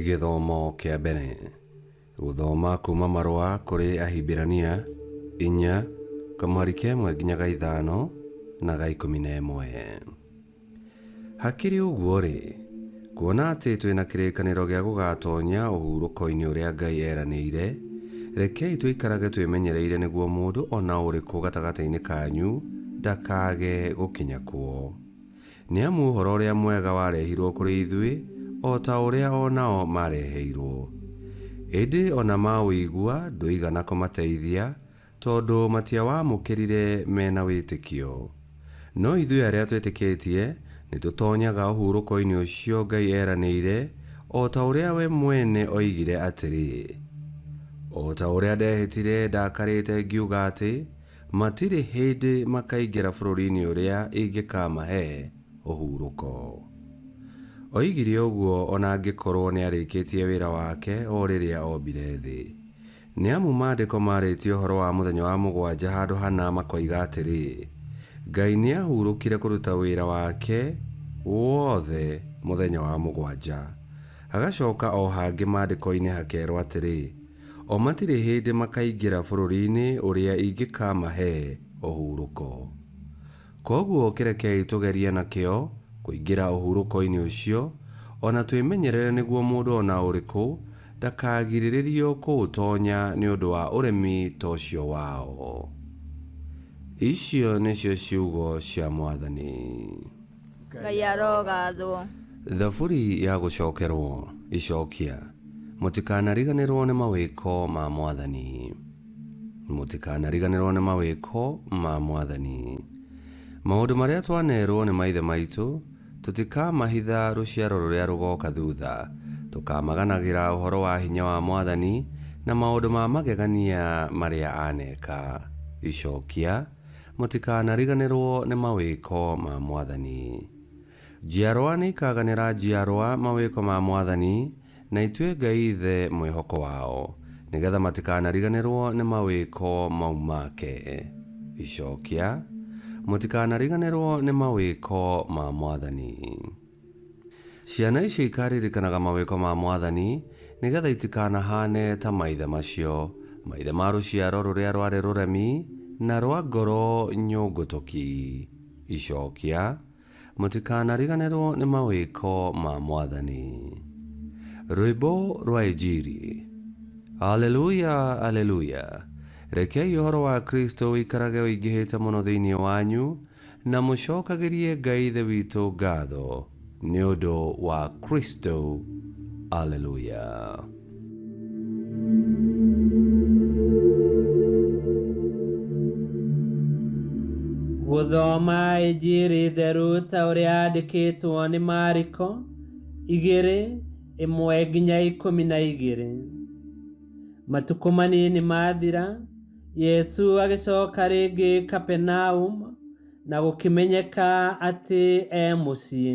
Gĩthomo kĩa mbere. Gũthoma kuuma marũa kũrĩ Ahibirania inya kamweri kemwe nginya ga ithano na ga ikũmi na ĩmwe. Hakĩrĩ ũguo-rĩ, kuona atĩ twĩ na kĩrĩkanĩro gĩa gũgaatonya ũhurũko-inĩ ũrĩa Ngai eeranĩire, rekei tũikarage twĩmenyereire nĩguo mũndũ o na ũrĩkũ gatagatĩ-inĩ kanyu ndakaage gũkinya kuo. Nĩ amu ũhoro ũrĩa mwega warehirũo kũrĩ ithuĩ o ta ũrĩa o nao maareheirũo. Ĩndĩ o na maũigua ndũigana kũmateithia, Tondũ matiawamũkĩrire me na wĩtĩkio. No ithuĩ arĩa twĩtĩkĩtie nĩ tũtoonyaga ũhurũko-inĩ ũcio Ngai eranĩire, o ta ũrĩa we mwene oigire atĩrĩ, O ta ũrĩa ndehĩtire ndakarĩte ngiuga atĩ, 'Matirĩ hĩndĩ makaingĩra bũrũri-inĩ ũrĩa ingĩkaamahe ũhurũko. Oigire ũguo o na angĩkorũo nĩ arĩkĩtie wĩra wake o rĩrĩa ombire thĩ. Nĩ amu Maandĩko maarĩtie ũhoro wa mũthenya wa mũgwanja handũ hana makoiga atĩrĩ, Ngai nĩ aahurũkire kũruta wĩra wake wothe mũthenya wa mũgwanja. Hagacoka o hangĩ Maandĩko-inĩ hakeerwo atĩrĩ, O matirĩ hĩndĩ makaingĩra bũrũri-inĩ ũrĩa ingĩkamahe ũhurũko. Kwoguo kĩrekei tũgerie na kĩyo kũingĩra ũhurũko-inĩ ũcio, o na twĩmenyerere nĩguo mũndũ o na ũrĩkũ ndakagirĩrĩrio kũũtonya nĩ ũndũ wa ũremi ta ũcio wao. Icio nĩcio ciugo cia Mwathani. Ngai arogaathwo. Thaburi ya gũcokerwo. Icokia. Mũtikanariganĩrwo nĩ mawĩko ma Mwathani. Mũtikanariganĩrwo nĩ mawĩko ma Mwathani. Maũndũ marĩa twaneerwo nĩ maithe maitũ tũtikamahitha rũciaro rũrĩa rũgooka thuutha. Tũkaamaganagĩra ũhoro wa hinya wa Mwathani na maũndũ ma magegania marĩa aaneka. Icokia, Mũtikanariganĩrwo nĩ mawĩko ma Mwathani. Njiarwa nĩikaganĩra njiarwa mawĩko ma mwathani, na itue Ngai Ithe mwĩhoko wao, nĩgeetha matikanariganĩrwo nĩ mawĩko mau make. Icokia, Mũtikanariganĩrwo nĩ mawĩko ma mwathani. Ciana icio ikaaririkanaga mawĩko ma mwathani, nĩgeetha itikanahaane ta maithe macio, maithe ma rũciaro rũrĩa rwarĩ rũremi, na rwa ngoro nyũngũtũki. Icokia, Mũtikanariganĩrwo nĩ mawĩko ma Mwathani. Rwĩmbo rwa Injiri. Aleluia, aleluia! Rekei ũhoro wa Kristo ũikarage ũingĩhĩte mũno thĩinĩ wanyu, na mũcokagĩrie Ngai Ithe witũ ngatho nĩ ũndũ wa Kristo. Aleluia! gũthoma injiri theru ta ũrĩa yandĩkĩtwo nĩ mariko igĩrĩ ĩmwe nginya ikũmi na igĩrĩ matukũ manini mathira yesu agĩcoka rĩngĩ kapenaum na gũkĩmenyeka atĩ e mũciĩ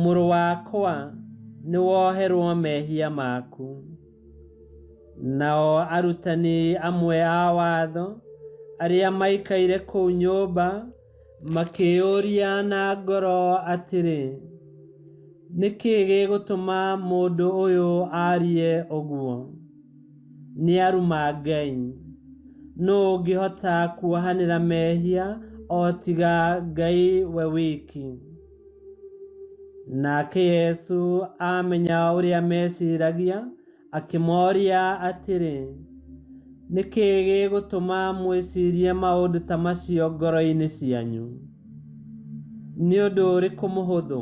Mũrũ wakwa, nĩ woherwo mehia maku. Nao arutani amwe a watho arĩa maikaire kũu nyũmba makĩyũria na ngoro atĩrĩ, Nĩ kĩĩ gĩgũtũma mũndũ ũyũ arie ũguo? Nĩ aruma Ngai. Nũ ũngĩhota kuohanĩra mehia o tiga Ngai we wiki? Nake Yesu amenya ũrĩa meciragia, akĩmooria atĩrĩ, nĩ kĩĩ gĩgũtũma mwĩcirie maũndũ ta macio ngoro-inĩ cianyu? Nĩ ũndũ ũrĩkũ mũhũthũ,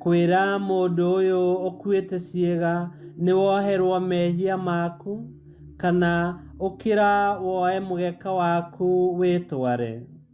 kwĩra mũndũ ũyũ ũkuĩte ciĩga nĩ woherwo mehia maku, kana ũkĩra woe mũgeka waku wĩtware?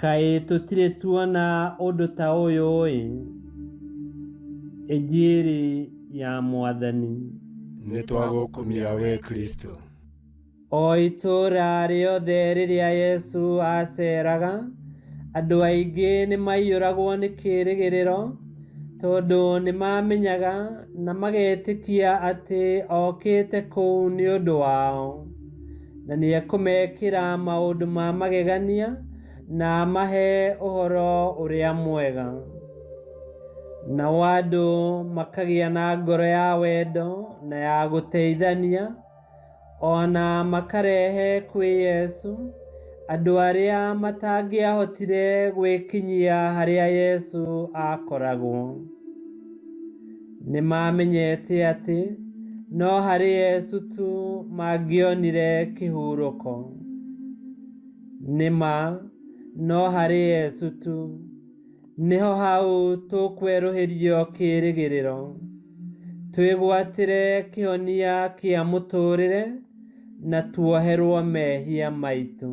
Kaĩ tũtirĩ tuona ũndũ ta ũyũ-ĩ! Injiri ya Mwathani. Nĩ twagũkumia wĩ Kristo. O itũũra rĩothe rĩrĩa Yesu aaceeraga, andũ aingĩ nĩ maaiyũragwo nĩ kĩĩrĩgĩrĩro, tondũ nĩ maamenyaga na magetĩkia atĩ okĩte kũu nĩ ũndũ wao. na nĩ ekũmekĩra maũndũ ma magegania na amahe ũhoro ũrĩa mwega. Nao andũ makagĩa na ngoro ya wendo na ya gũteithania, ona makarehe kwĩ Yesu andũ arĩa matangĩahotire gwĩkinyia harĩa Yesu akoragwo. Nĩ maamenyete atĩ no harĩ Yesu tu mangĩonire kĩhurũko. Nĩ ma, no harĩ Yesu tu. Nĩho hau tũkwerũhĩrio kĩĩrĩgĩrĩro, twĩgwatĩre kĩhonia kĩa mũtũũrĩre na tuoherwo mehia maitũ.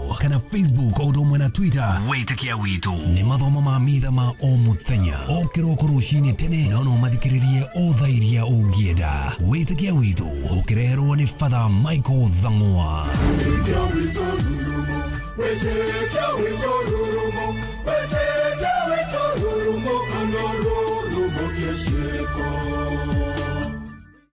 kana facebook o ũndũ ũmwe na twitter wĩtĩkia witũ nĩ mathomo ma mitha ma o mũthenya o kĩroko rũcinĩ tene no no mathikĩrĩrie o tha iria ũngĩenda wĩtĩkia witũ ũkĩreherwo nĩ fatha michael thang'wa Thank you.